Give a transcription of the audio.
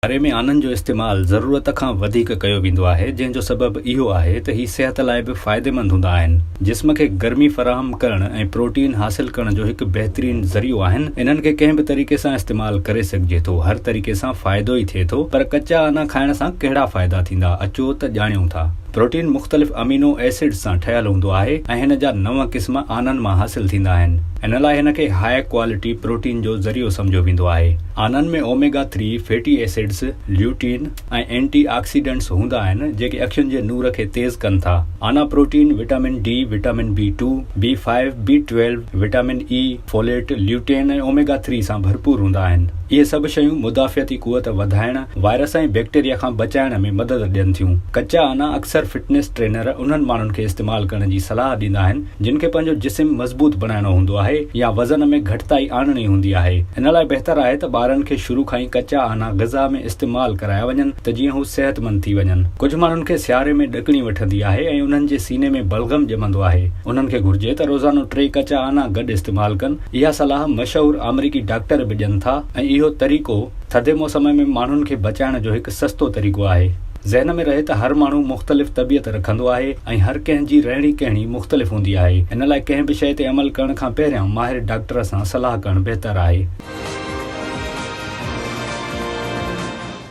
ڪري ۾ آنن جو استعمال ضرورت کان وڌيڪ ڪيو ويندو آهي جنهن جو سبب اهو آهي ته هي صحت لاء به فائديمند هوندا آهن جسم کي گرمي فراهم ڪرڻ ۽ پروٽين حاصل ڪرڻ جو هڪ بهترين ذريعو آهن انهن کي ڪنهن به طريقي سان استعمال ڪري سگهجي ٿو هر طريقي سان فائدو ئي ٿئي ٿو پر ڪچا آنا کائڻ سان ڪهڙا فائدا ٿيندا اچو ته ڄاڻيون ٿا پروٽين مختلف امينو ايسڊز سان ٺهيل هوندو آهي ۽ هن جا نو قسم آنن مان حاصل ٿيندا آهن ان لاء هن کي هاء ڪوالٽي پروٽين جو ذريعو سمجهيو ويندو آهي. آنن ۾ omega three fatty acids, lutein ۽ antioxidants هوندا آهن، جيڪي اکين جي نور کي تيز ڪن ٿا. آنا protein, vitamin D, vitamin B two, B five, B twelve, vitamin A, folate, lutein ۽ omega three سان ڀرپور هوندا آهن. اهي سڀ شيون مدافعتي قوت وڌائڻ، وائرس ۽ بيڪٽيريا کان بچائڻ ۾ مدد ڏين ٿيون. ڪچا آنا اڪثر فٽنس ٽرينر انهن ماڻهن کي استعمال ڪرڻ جي صلاح ڏيندا آهن، جن کي پنهنجو جسم مضبوط بڻائڻو هوندو آهي يا وزن ۾ گهٽتائي آڻڻي هوندي آهي ان لاء بهتر آهي ته ٻارن کي شروع کان ئي ڪچا آنا غذا ۾ استعمال ڪرايا وڃن ته جيئن هو صحتمند ٿي وڃن ڪجهه ماڻهن کي سياري ۾ ڏڪڻي وٺندي آهي ۽ انهن جي سيني ۾ بلغم ڄمندو آهي انهن کي گهرجي ته روزانو ٽي ڪچا آنا گڏ استعمال ڪن اها صلاح مشهور آمريڪي ڊاڪٽر به ڏين ٿا ۽ اهو طريقو ٿڌي موسم ۾ ماڻهن کي بچائڻ جو هڪ سستو طريقو آهي. ذهن ۾ رهي ته هر ماڻهو مختلف طبيعت رکندو آهي ۽ هر ڪنهن جي رهڻي ڪهڻي مختلف هوندي آهي ان لاء ڪنهن به شيء تي عمل ڪرڻ کان پهريان ماهر ڊاڪٽر سان صلاح ڪرڻ بهتر آهي.